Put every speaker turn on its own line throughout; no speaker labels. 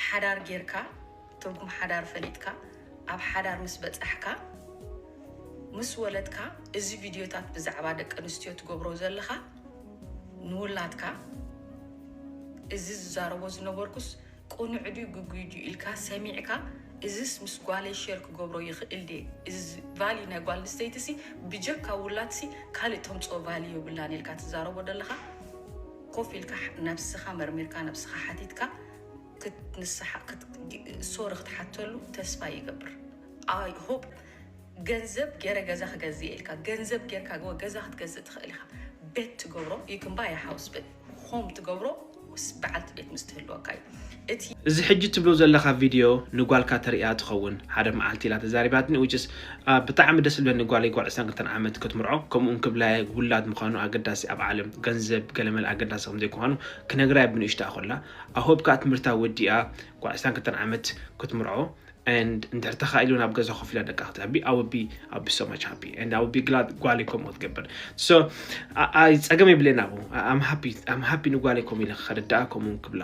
ሓዳር ጌርካ ትርጉም ሓዳር ፈሊጥካ ኣብ ሓዳር ምስ በጻሕካ ምስ ወለድካ እዚ ቪድዮታት ብዛዕባ ደቂ ኣንስትዮ ትገብሮ ዘለኻ ንውላድካ እዚ ዝዛረቦ ዝነበርኩስ ቅኑዕ ድዩ ግጉይ ድዩ ኢልካ ሰሚዕካ እዚስ ምስ ጓለይ ሼር ክገብሮ ይኽእል ድየ እዚ ቫልዩ ናይ ጓል ኣንስተይቲ ሲ ብጀካ ውላድሲ ካልእ ተምፅኦ ቫልዩ የብላን ኢልካ ትዛረቦ ዘለኻ ኮፍ ኢልካ ነብስኻ መርሚርካ ነብስኻ ሓቲትካ ክትንስሓ ሶሪ ክትሓተሉ ተስፋ ይገብር ኣይ ሆፕ ገንዘብ ገረ ገዛ ክገዝ እየ ኢልካ ገንዘብ ጌርካ ገ ገዛ ክትገዝእ ትኽእል ኢኻ ቤት ትገብሮ ይክምባ የሓውስ በት ሆም ትገብሮ በዓልቲ ቤት ምስ ትህልወካ እዩ እቲ። እዚ ሕጂ
ትብሎ ዘለካ ቪድዮ ንጓልካ ተርእያ ትከውን ሓደ መዓልቲ ኢላ ተዛሪባትኒ which is ብጣዕሚ ደስ ዝብለኒ ጓለይ ጓል ዕስራን ክልተን ዓመት ክትምርዖ ከምኡ ውን ክብላየ ውላድ ምካኑ ኣገዳሲ ኣብ ዓለም ገንዘብ ገለመለ ኣገዳሲ ከም ዘይኩካኑ ክነግራየ ብንእሽትኣ ኮላ I hope ከኣ ትምህርታ ወዲኣ ጓል ዕስራን ክልተን ዓመት ክትምርዖ and እንድሕር ተካኢሉ ናብ ገዛ ኮፍ ኢላ ደቃ ክተዕቢ I will be I will be so much happy and I will be glad ጓለይ ከምኡ ክትገብር so I I ጸገም የብለይን ኣብኡ I'm happy I'm happy ንጓለይ ከምኡ ኢለ ክከርዳኣ ከምኡ ውን ክብላ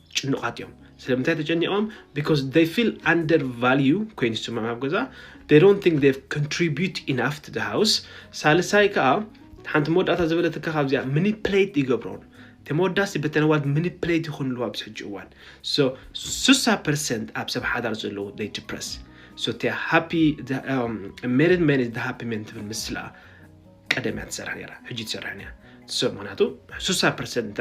ጭኑቃት እዮም ስለምንታይ ተጨኒቆም because they feel under value ኮይኑ ዝስምዖም ኣብ ገዛ they don't think they've contribute enough to the house ሳልሳይ ከዓ ሓንቲ መወዳእታ ዝበለትካ ካብዚኣ ምኒፕሌት ይገብሮን ተመወዳሲ በተነዋድ ምኒፕሌት ይኹን ኣለዋ ኣብዚ ሕጂ እዋን ሶ ስሳ ፐርሰንት ኣብ ሰብ ሓዳር ዘለዎ they depress so እቲ ሃፒ ሜሪድ ሜን ኢዝ ሃፒ ሜን ትብል ምስላ ቀደም እያ ትሰርሕ ነራ ሕጂ ትሰርሕ እያ ሰብ ምክንያቱ ስሳ ፐርሰንት እንተ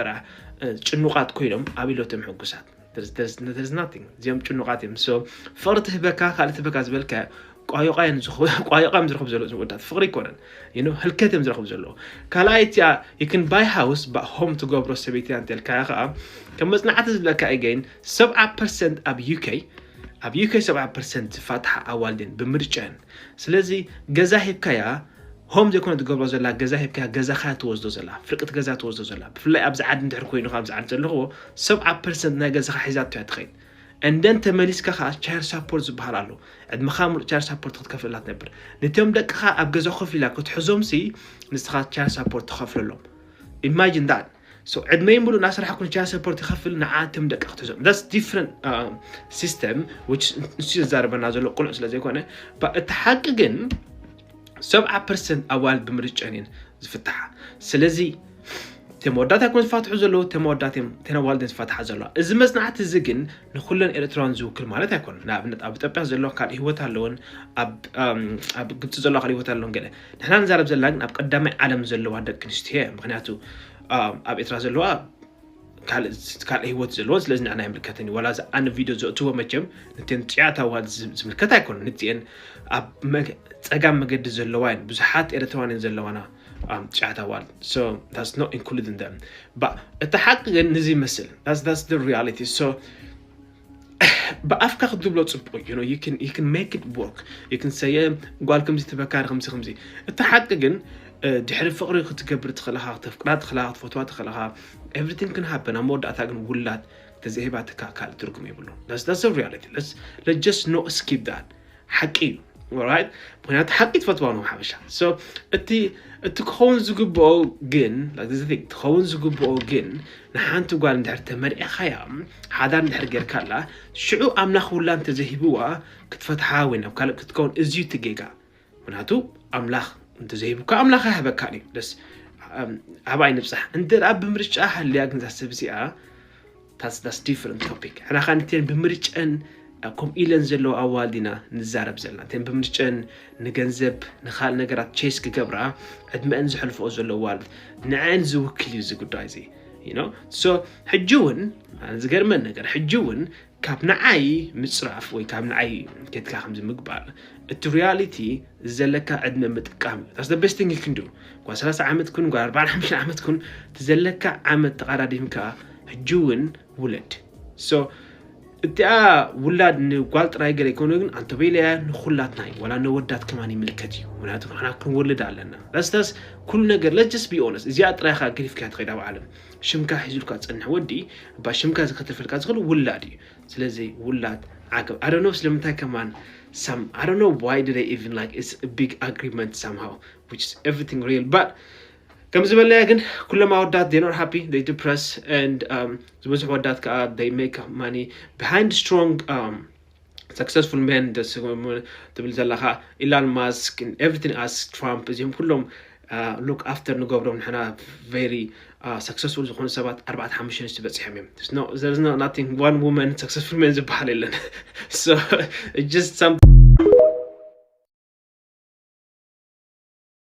ጭኑቃት ኮይኖም ኣብ ኢሎቶም ሕጉሳት እዚኦም ጭኑቃት እዮም ሰው ፍቅሪ ትህበካ ካልእ ትህበካ ዝበልካ ቋዮቃ እዮም ዝረኽቡ ዘለዉ ዝወዳት ፍቅሪ ይኮነን ይኖ ህልከት እዮም ዝረኽቡ ዘለዉ ካልኣይ እቲኣ ይክን ባይ ሃውስ ሆም ትገብሮ ሰበይቲ እንተልካ ከዓ ከም መፅናዕቲ ዝብለካ ኢገይን ሰብዓ ፐርሰንት ኣብ ዩከይ ኣብ ዩከይ ሰብዓ ፐርሰንት ዝፋትሓ ኣዋልድን ብምርጫን ስለዚ ገዛ ሂብካያ ሆም ዘይኮነ ትገብሮ ዘላ ገዛ ሂብካያ ገዛኻ ትወስዶ ዘላ ፍርቅቲ ገዛ ትወስዶ ዘላ ብፍላይ ኣብዚ ዓዲ እንድሕር ኮይኑ ኣብዚ ዓዲ ዘለኽዎ ሰብዓ ፐርሰንት ናይ ገዛኻ ሒዛቶ እያ ትኸይድ እንደን ተመሊስካ ከዓ ቻይር ሳፖርት ዝበሃል ኣሎ ዕድመኻ ሙሉእ ቻይር ሳፖርት ክትከፍለላ ትነብር ነቶም ደቅኻ ኣብ ገዛ ኮፍ ኢላ ክትሕዞም ሲ ንስኻ ቻይር ሳፖርት ትኸፍለሎም ኢማጂን ዳት so ዕድመይ ሙሉእ እናሰራሕኩ ንቻይና ሰፖርት ይኸፍል ንዓትም ደቂ ክትዞም that's different um, system which ንሱ ዘዛርበና ዘሎ ቁኑዕ ስለ ዘይኮነ ባ- እቲ ሓቂ ግን ሰብዓ ፐርሰንት ኣዋል ብምርጫን እየን ዝፍትሓ ስለዚ እቶም ወዳት ኣይኮን ዝፋትሑ ዘለዉ እቶም ወዳት እዮም እተን ኣዋልድ እየን ዝፋትሓ ዘለዋ እዚ መፅናዕቲ እዚ ግን ንኩለን ኤርትራውያን ዝውክል ማለት ኣይኮነን ንኣብነት ኣብ ኢትዮጵያ ዘለዋ ካልእ ሂወት ኣለወን ኣብ ኣም፣ ኣብ ግብፂ ዘለዋ ካልእ ሂወት ኣለወን ገለ ንሕና ንዛረብ ዘለና ግን ኣብ ቀዳማይ ዓለም ዘለዋ ደቂ ኣንስትዮ እየን ምክንያቱ ኣብ ኤርትራ ዘለዋ ካልእ ህይወት ዘለዎን ስለዚ ንዕና ኣይምልከትን እዩ ዋላ እዚ ኣነ ቪድዮ ዘእትዎ መቸም ነተን ጥዑያት ኣዋል ዝምልከት ኣይኮነ ንትኤን ኣብ ፀጋም መገዲ ዘለዋ እየን ብዙሓት ኤርትራዋን እየን ዘለዋና ጥዑያት ኣዋል ዳስ ኖ ኢንክሉድን ደም እታ ሓቂ ግን ንዚ ይመስል ዳስ ዳስ ሪያሊቲ ብኣፍካ ክትብሎ ፅቡቅ እዩ ዩ ን ሜክ ወርክ ን ሰየ ጓል ከምዚ ተፈካሪ ከምዚ ከምዚ እቲ ሓቂ ግን ድሕሪ ፍቅሪ ክትገብር ትኽእልኻ ክተፍቅራ ትኽእልኻ ክትፈትዋ ትኽእልኻ ኤቭሪቲንግ ክን ሃበን ኣብ መወዳእታ ግን ውላድ ተዘይህባትካ ካልእ ትርጉም የብሉ ስ ሪያሊቲ ስ ኖ ስኪፕ ዳት ሓቂ እዩ ኦራይት ምክንያቱ ሓቂ ትፈትዋ ነው ሓበሻ ሶ እቲ እቲ ክኸውን ዝግብኦ ግን like this thing ክኸውን ዝግብኦ ግን ንሓንቲ ጓል እንድሕር ተመርዒኻያ ሓዳር እንድሕር ጌርካላ ሽዑ ኣምላኽ ውላ እንተዘይሂብዋ ክትፈትሓ ወይ ናብ ካልእ ክትከውን እዝዩ እቲ ጌጋ ምክንያቱ ኣምላኽ እንተዘይሂቡካ ኣምላኽ ኣይሃበካን እዩ ደስ ኣብኣይ ንብፃሕ እንተ ደኣ ብምርጫ ሃልያ ግን እዛ ሰብ እዚኣ That's that's different topic ሕና ከኣ ነተን ብምርጨን ከምኡ ኢለን ዘለዋ ኣዋልድ ኢና ንዛረብ ዘለና እተን ብምርጨን ንገንዘብ ንካልእ ነገራት ቼስ ክገብራ ዕድመአን ዘሕልፈኦ ዘሎ ኣዋልድ ንዐን ዝውክል እዩ እዚ ጉዳይ እዚ ኖ ሶ ሕጂ እውን ዝገርመን ነገር ሕጂ እውን ካብ ንዓይ ምፅራፍ ወይ ካብ ንዓይ ኬትካ ከምዚ ምግባር እቲ ሪያሊቲ ዘለካ ዕድመ ምጥቃም እዩ ታስ ቤስት ቲንግ ክንዱ ጓ 30 ዓመት ኩን ጓ 45 ዓመት ኩን እቲ ዘለካ ዓመት ተቐዳዲምካ ሕጂ ውን ውለድ so እቲኣ ውላድ ንጓል ጥራይ ገለ ይኮነ ግን ኣንተበይለያ ንኩላትና እዩ ዋላ ነወዳት ከማን ይምልከት እዩ ምክንያቱ ንሕና ክንወልድ ኣለና ረስተስ ኩሉ ነገር ለጀስ ቢኦነስ እዚኣ ጥራይካ ገዲፍካ ትኸይድ ኣብ ዓለም ሽምካ ሒዙልካ ዝፀንሕ ወዲ እባ ሽምካ ዝከተፈልካ ዝኽእል ውላድ እዩ ስለዚ ውላድ ዓገብ ኣደኖ ስለምንታይ ከማን ሳም ኣደኖ ዋይ ድደ ኢቭን ላይክ ኢትስ ቢግ ኣግሪመንት ሳምሃው ዊች ኢዝ ኤቭሪቲንግ ሪል ባት ከምዚ በለያ ግን ኩሎም ኣወዳት they not happy they depress and um, ዝበዝሑ ወዳት ከዓ they make money behind strong um, successful men ትብል ዘለካ ኢላን ማስክ ኤቭሪቲን ኣስ ትራምፕ እዚኦም ኩሎም ሉክ uh, ኣፍተር ንገብሮም ንሕና ቨሪ ሰክሰስፉል uh, ዝኾኑ ሰባት ኣርባዕተ ሓሙሽተ ንስቲ በፂሖም እዮም ናቲንግ ዋን ውመን ሰክሰስፉል መን ዝበሃል የለን ጀስት